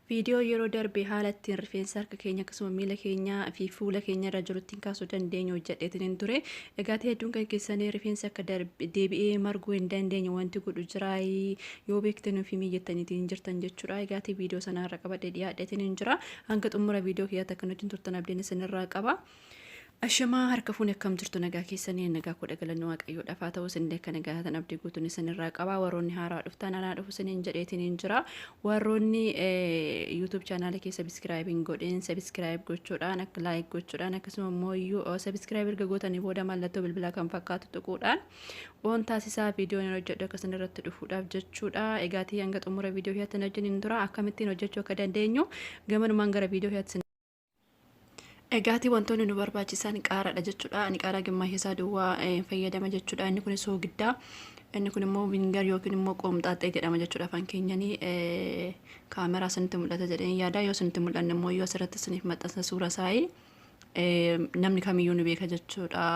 Viidiyoo yeroo darbe haala ittiin rifeensa harka keenya akkasuma miila keenya fi fuula keenya irra jiru ittiin kaasuu dandeenyu hojjedheetiin hin ture. Egaa hedduun kan keessanii rifeensa akka deebi'ee marguu hin dandeenye wanti godhu jiraa yoo beekte nuuf himii jettaniitiin jirtan jechuudha. Egaa viidiyoo sana irra qabadhee dhiyaadheetiin hin jira. Hanga xumura viidiyoo kiyyaatti akka nuti turtan abdiin isinirraa qaba. Ashamaa harka fuuni akkam jirtu nagaa keessanii nagaa koo dhagalanni waaqayyoo dhafaa ta'uu isinillee akka nagaa tan abdii guutuun isinirraa qabaa warroonni haaraa dhuftaan anaa dhufu isiniin jedheetiin hin jira warroonni YouTube chaanaala kee sabiskiraayib hin godhin sabiskiraayib gochuudhaan akka laayik gochuudhaan akkasuma immoo iyyuu sabiskiraayib erga gootanii booda mallattoo bilbilaa kan fakkaatu tuquudhaan waan taasisaa viidiyoon hin hojjedhu akka isin irratti dhufuudhaaf jechuudha egaatii hanga xumura viidiyoo hiyaatti hin hojjetin hin tura akkamittiin hojjechuu akka dandeenyu gamanumaan gara viidiyoo hiyaatti Egaati wantoonni nu barbaachisan qaaraadha jechuudha. Ani qaaraa gimmaasha isaa duwwaa eh, fayyadama jechuudha. Inni kun soogiddaa. Inni kun immoo vingar yookiin immoo qoomxaaxxee jedhama jechuudha afaan keenyanii eh, kaameraa isinitti mul'ata jedheen yaada. Yoo isinitti mul'anne immoo yoo asirratti isiniif maxxansa suura saayii eh, namni kamiyyuu ni beeka jechuudha.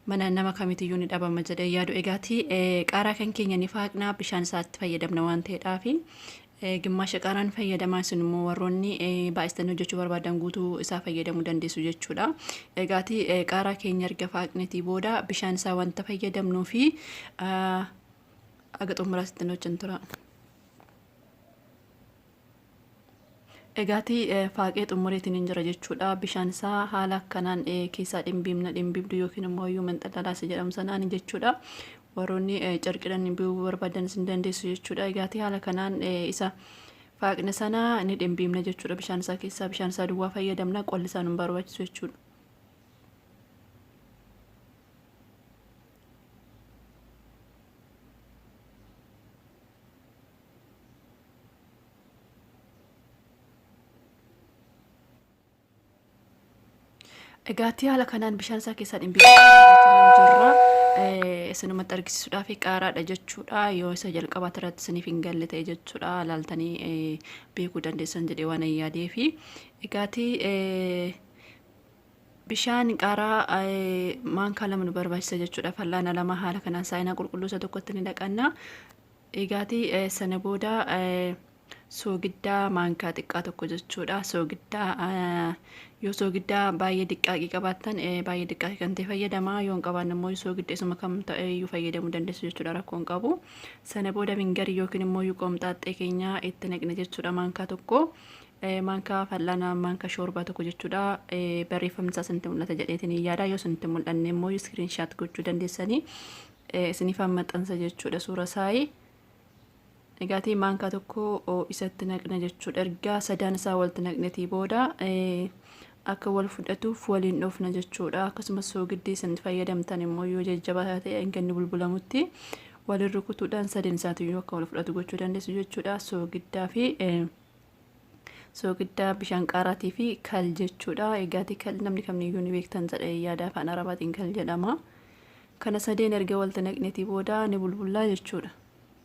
Mana nama kamitiyyuu ni dhabama jedhee yaadu. Egaati eh, qaaraa kan keenya ni faaqnaa bishaan isaatti fayyadamna waan ta'eedhaafi. Gimmaasha qaaraan fayyadamaa isin immoo warroonni baay'istanii hojjechuu barbaadan guutuu isaa fayyadamuu dandeessu jechuudha. Egaati qaaraa keenya erga faaqnetii booda bishaan isaa wanta fayyadamnuu fi aga xumuraa sittin hojjan tura. Egaati faaqee xumureetiin hin jira jechuudha. Bishaan isaa haala akkanaan keessaa dhimbiimna dhimbiibdu yookiin immoo iyyuu manxalalaasa jedhamu sanaan jechuudha. Warroonni carqidhan bi'uu barbaadan isin dandeessu jechuudha. Egaatii haala kanaan isa faaqne sana ni dhimbiimna jechuudha. Bishaan isaa keessaa bishaan isaa duwwaa fayyadamna qolli isaa nun barbaachisu jechuudha. Egaattii haala kanaan bishaan isaa keessaa dhimbiifachuun jirra. Isinumatti argisiisuudhaaf qaaraadha jechuudha. Yoo isa jalqabaa irratti isiniif hin galle ta'e jechuudha. Laaltanii beekuu dandeessan jedhee waan hin yaadeefi. Egaattii bishaan qaaraa maankaa lama nu barbaachisa jechuudha. Fal'aana lama haala kanaan saayinaa qulqulluu isa tokkotti ni dhaqanna. Egaattii sana booda soogiddaa maankaa xiqqaa tokko jechuudha. Soogiddaa yoo soogiddaa baay'ee diqqaaqii qabaattan baay'ee diqqaaqii kan ta'e fayyadama. Yoo hin qabaanne immoo soogidda isuma kam ta'e iyyuu fayyadamuu dandeessu jechuudha rakkoo hin qabu. Sana booda mingarii yookiin immoo qoomxaaxxee keenya itti naqne jechuudha maankaa tokko. Maankaa fal'aana maankaa shoorbaa tokko jechuudha. Barreeffamni isaa isinitti mul'ata jedheetiin yaada. Yoo isinitti mul'anne immoo iskiriinshaat gochuu dandeessanii isiniif maxxansa jechuudha suura saayii. Egaati maankaa tokko isatti naqna jechuudha. Erga sadaan isaa walitti naqnetii booda akka wal fudhatuuf waliin dhoofna jechuudha. Akkasumas soogiddi isin fayyadamtan immoo yoo jajjabaa ta'e hanga inni bulbulamutti waliin rukutuudhaan sadeen isaatiyyuu akka wal fudhatu gochuu dandeessu jechuudha. Soogiddaa fi soogiddaa bishaan qaaraatii fi kal jechuudha. Egaati kal namni kamiyyuu ni beektan jedhe yaada afaan arabaatiin kal jedhama. Kana sadeen erga walitti naqnetii booda ni bulbullaa jechuudha.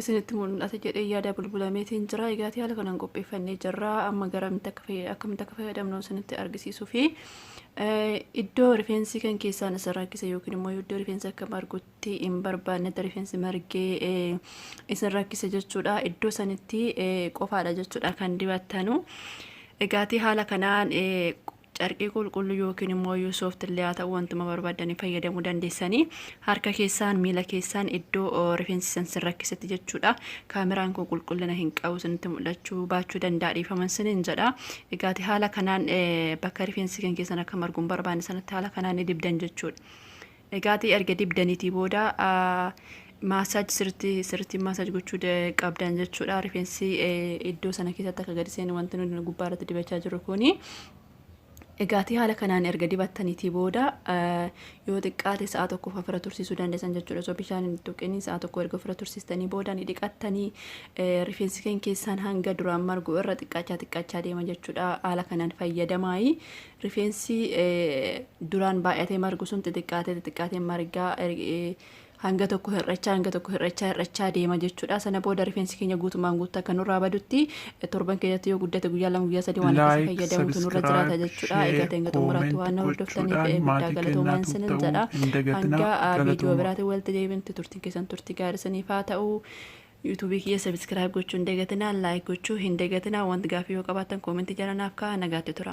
isinitti mul'ata jedhee yaada bulbulameetiin jira. Egaa haala kanaan qopheeffannee jirra. Amma garamitti akka fayyad- akkamitti akka fayyadamnu isinitti argisiisuu fi eh, iddoo rifeensi kan keessaan isa rakkise yookiin immoo iddoo rifeensi akka margutti hin barbaannetti rifeensi margee eh, isin rakkise jechuudha. Iddoo sanitti eh, qofaadha jechuudha kan dibattanu. Egaatii haala kanaan eh, Carqii qulqulluu yookiin immoo iyyuu soft illee haa ta'u wantuma barbaaddanii fayyadamuu dandeessanii harka keessaan miila keessaan iddoo oo, rifeensi san sin rakkisetti jechuudha. Kaameraan kun qulqullina hin qabu sinitti mul'achuu baachuu danda'a dhiifaman sinin jedha. Egaati haala kanaan eh, bakka rifeensi kan keessan akka margu hin barbaanne sanatti haala kanaan ni dibdan jechuudha. Egaatii erga dibdanitii booda massage sirritti sirritti massage gochuu qabdan jechuudha. Rifeensi iddoo sana keessatti akka gadi seenu wanti nuti gubbaa irratti dibachaa jirru kuni. Egaatii haala kanaan erga dibattanitii booda yoo xiqqaate sa'a tokkoof ofirra tursiisuu dandeessan jechuudha. Osoo bishaan hin tuqin sa'a tokko erga ofirra tursiistanii booda ni dhiqattanii rifeensi keenya keessaan hanga duraan margu irra xiqqaachaa xiqqaachaa deema jechuudha. Haala kanaan fayyadamaayi Rifeensi duraan baay'atee margu sun xixiqqaatee xixiqqaatee margaa hanga tokko hir'achaa hanga tokko hir'achaa hir'achaa deema jechuudha. Sana booda rifeensi keenya guutumaan guutuu akka nurraa badutti torban keessatti yoo guddate guyyaa lama guyyaa sadii waan akkasii fayyadamutu nurra jiraata jechuudha. Egaa ta'e hanga xumuraatti waan na hordoftaniif guddaa galatoomaa isinin jedha. Hanga viidiyoo biraatiin walitti deebinutti turtiin keessan turtii gaarii isiniif haa ta'u. yuutuubii kiyya sabiskiraayib gochuu hin dagatinaa laayik gochuu hin dagatinaa wanti gaafii yoo qabaattan koomentii jala naaf kaa'aa nagaatti tura.